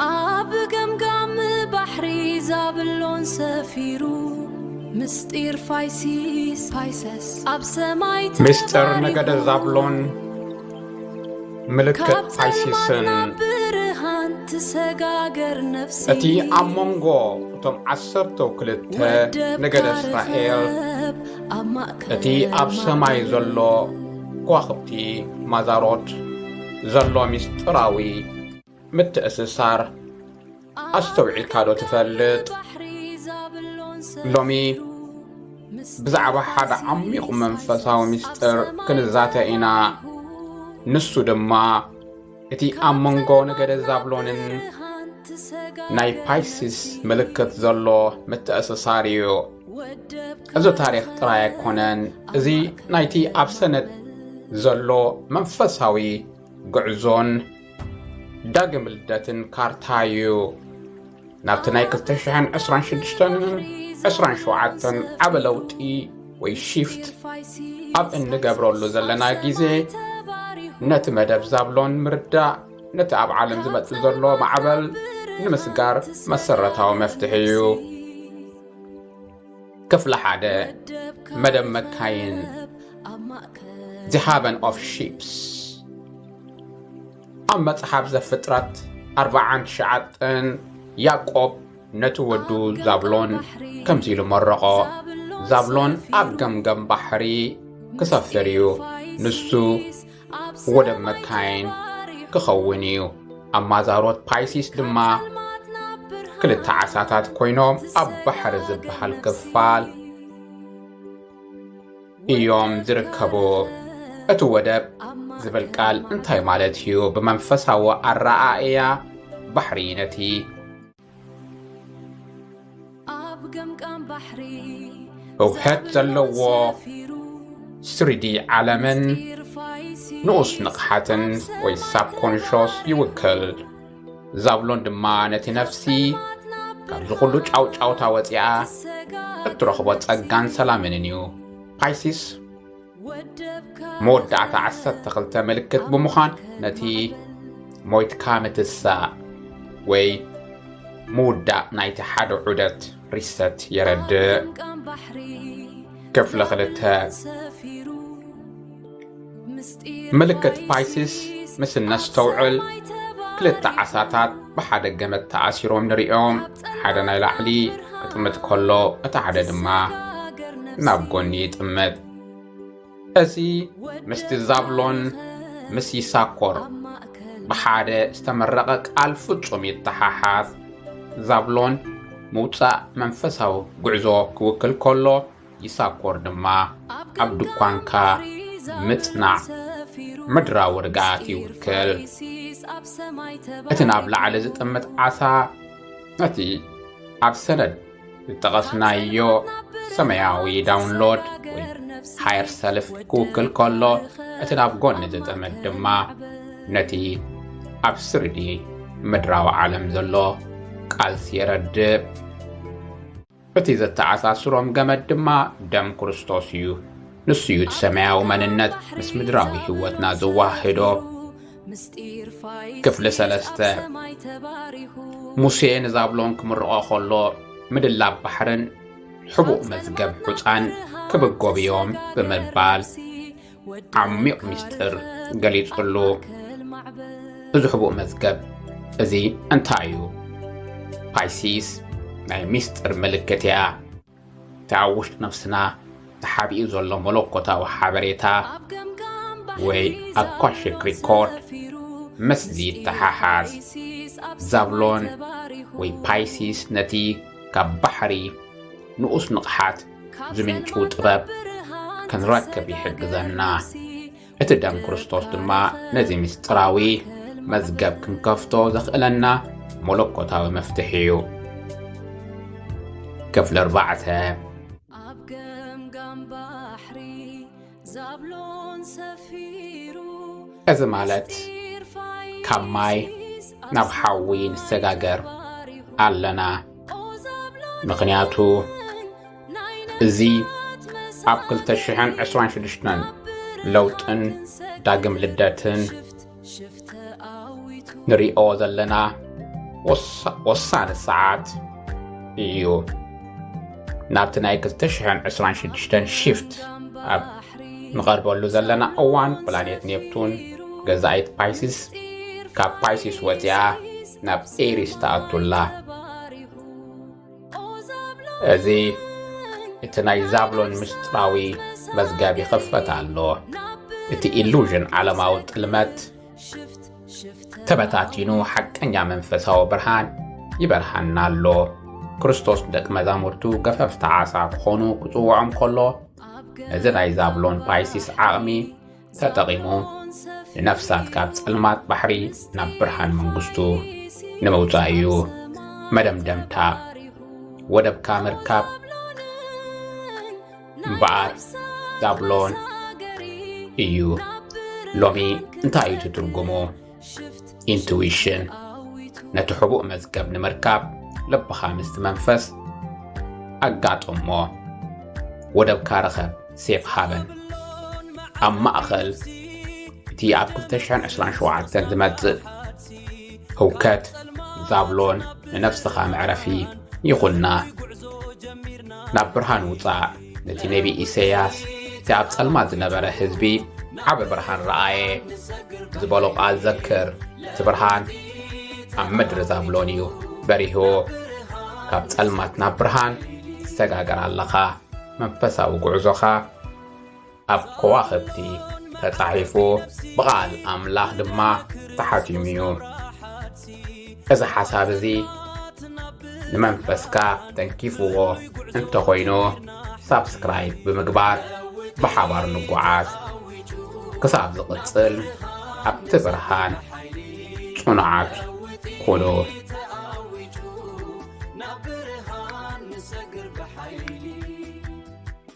ኣብ ገምጋም ባሕሪ ዛብሎን ሰፊሩ ምስጢር ፋይሲስ ፋይሰስ ኣብ ሰማይ ምስጢር ነገደ ዛብሎን ምልክት ፋይሲስን ብርሃን ትሰጋገር ነፍሲ እቲ ኣብ መንጎ እቶም ዓሰርተ ክልተ ነገደ እስራኤል እቲ ኣብ ሰማይ ዘሎ ከዋኽብቲ ማዛሮት ዘሎ ምስጢራዊ ምትእስሳር ኣስተውዒልካ ዶ ትፈልጥ? ሎሚ ብዛዕባ ሓደ ዓሚቝ መንፈሳዊ ምስጢር ክንዛተ ኢና ንሱ ድማ እቲ ኣብ መንጎ ነገደ ዛብሎንን ናይ ፓይሲስ ምልክት ዘሎ ምትእስሳር እዩ እዚ ታሪኽ ጥራይ ኣይኮነን፣ እዚ ናይቲ ኣብ ሰነት ዘሎ መንፈሳዊ ጉዕዞን ዳግም ልደትን ካርታ እዩ። ናብቲ ናይ 226ን 27ን ዓበ ለውጢ ወይ ሺፍት ኣብ እንገብረሉ ዘለና ግዜ ነቲ መደብ ዛብሎን ምርዳእ ነቲ ኣብ ዓለም ዝመጽእ ዘሎ ማዕበል ንምስጋር መሰረታዊ መፍትሒ እዩ። ክፍሊ ሓደ መደብ መካይን ዝሃበን ኦፍ ሺፕስ ኣብ መጽሓፍ ዘፍጥረት ኣርብዓን ትሽዓተን ያዕቆብ ነቲ ወዱ ዛብሎን ከምዚ ኢሉ መረቖ ዛብሎን ኣብ ገምገም ባሕሪ ክሰፍር እዩ ንሱ ወደብ መካይን ክኸውን እዩ ኣብ ማዛሮት ፓይሲስ ድማ ክልተ ዓሳታት ኮይኖም ኣብ ባሕሪ ዝበሃል ክፋል እዮም ዝርከቡ እቲ ወደብ ዝብል ቃል እንታይ ማለት እዩ ብመንፈሳዊ ኣረኣእያ ባሕሪ ነቲ እውሐት ዘለዎ ስሪዲ ዓለምን ንኡስ ንቕሓትን ወይ ሳብኮንሾስ ይውክል ዛብሎን ድማ ነቲ ነፍሲ ካብዚ ዅሉ ጫውጫውታ ወፂኣ እትረኽቦ ጸጋን ሰላምንን እዩ ፓይሲስ መወዳእታ ዓሰርተ ክልተ ምልክት ብምዃን ነቲ ሞይትካ ምትሳእ ወይ ምውዳእ ናይቲ ሓደ ዑደት ሪሰት የረድእ ክፍሊ ክልተ ምልክት ፓይሲስ ምስ እነስተውዕል ክልተ ዓሳታት ብሓደ ገመድ ተኣሲሮም ንርእዮም ሓደ ናይ ላዕሊ ክጥምት ከሎ እቲ ሓደ ድማ ናብ ጎኒ ይጥምት እዚ ምስቲ ዛብሎን ምስ ይሳኮር ብሓደ ዝተመረቐ ቃል ፍጹም ይተሓሓዝ ዛብሎን ምውፃእ መንፈሳዊ ጉዕዞ ክውክል ከሎ ይሳኮር ድማ ኣብ ድኳንካ ምጽናዕ ምድራዊ ርግኣት ይውክል። እቲ ናብ ላዕሊ ዝጥምት ዓሳ ነቲ ኣብ ሰነድ ዝጠቐስናዮ ሰማያዊ ዳውንሎድ ወይ ሃየር ሰልፍ ክውክል ከሎ እቲ ናብ ጎኒ ዝጥምት ድማ ነቲ ኣብ ስሪዲ ምድራዊ ዓለም ዘሎ ቃልሲ የረድእ። እቲ ዘተኣሳስሮም ገመድ ድማ ደም ክርስቶስ እዩ። ንሱ እዩ እቲ ሰማያዊ መንነት ምስ ምድራዊ ህይወትና ዘወሃህዶ። ክፍሊ ሰለስተ ሙሴ ንዛብሎን ክምርቖ ከሎ ምድላብ ባሕርን ሕቡእ መዝገብ ሑፃን ክብጎብዮም ብምባል ዓሚቕ ምስጢር ገሊጹሉ። እዚ ሕቡእ መዝገብ እዚ እንታይ እዩ? ፓይሲስ ናይ ምስጢር ምልክት እያ። እቲ ኣብ ውሽጢ ነፍስና ተሓቢኡ ዘሎ መለኮታዊ ሓበሬታ ወይ ኣኳሽክ ሪኮርድ ምስዚ ይተሓሓዝ። ዛብሎን ወይ ፓይሲስ ነቲ ካብ ባሕሪ ንኡስ ንቕሓት ዝምንጩ ጥበብ ክንረክብ ይሕግዘና እቲ ደም ክርስቶስ ድማ ነዚ ምስጢራዊ መዝገብ ክንከፍቶ ዘኽእለና መለኮታዊ መፍትሒ እዩ ክፍሊ ኣርባዕተ እዚ ማለት ካብ ማይ ናብ ሓዊ ንሰጋገር ኣለና ምኽንያቱ እዚ ኣብ 226 ለውጥን ዳግም ልደትን ንሪኦ ዘለና ወሳኒ ሰዓት እዩ ናብቲ ናይ 226 ሽፍት ኣብ ንቐርበሉ ዘለና እዋን ፕላኔት ኔፕቱን ገዛኢት ፓይሲስ ካብ ፓይሲስ ወፂኣ ናብ ኤሪስ ተኣቱላ እዚ እቲ ናይ ዛብሎን ምስጢራዊ መዝገብ ይኸፈት ኣሎ እቲ ኢሉዥን ዓለማዊ ጥልመት ተበታቲኑ ሓቀኛ መንፈሳዊ ብርሃን ይበርሃና ኣሎ ክርስቶስ ደቂ መዛሙርቱ ገፈፍቲ ዓሳ ክኾኑ ክፅውዖም ከሎ እዚ ናይ ዛብሎን ፓይሲስ ዓቕሚ ተጠቒሙ ንነፍሳት ካብ ጸልማት ባሕሪ ናብ ብርሃን መንግስቱ ንምውጻእ እዩ መደምደምታ ወደብካ ምርካብ እምበኣር ዛብሎን እዩ ሎሚ እንታይ እዩ ትትርጉሙ ኢንትዊሽን ነቲ ሕቡእ መዝገብ ንምርካብ ልብኻ ምስቲ መንፈስ ኣጋጥሞ ወደብካ ርኸብ ሴፍ ሃበን ኣብ ማእኸል እቲ ኣብ 227 ዝመጽእ ህውከት ዛብሎን ንነፍስኻ መዕረፊ ይኹና ናብ ብርሃን ውፃእ ነቲ ነቢ ኢሰያስ እቲ ኣብ ጸልማት ዝነበረ ህዝቢ ዓበ ብርሃን ረኣየ ዝበሎ ቓል ዘክር እቲ ብርሃን ኣብ ምድሪ ዛብሎን እዩ በሪሁ ካብ ጸልማት ናብ ብርሃን ትሰጋገር ኣለኻ መንፈሳዊ ጉዕዞኻ ኣብ ከዋኸብቲ ተጻሒፉ ብቓል ኣምላኽ ድማ ተሓቲሙ እዩ እዚ ሓሳብ እዚ ንመንፈስካ ተንኪፍዎ እንተኾይኑ ሳብስክራይብ ብምግባር ብሓባር ንጓዓዝ ክሳብ ዝቕጽል ኣብቲ ብርሃን ጽኑዓት ኩኑ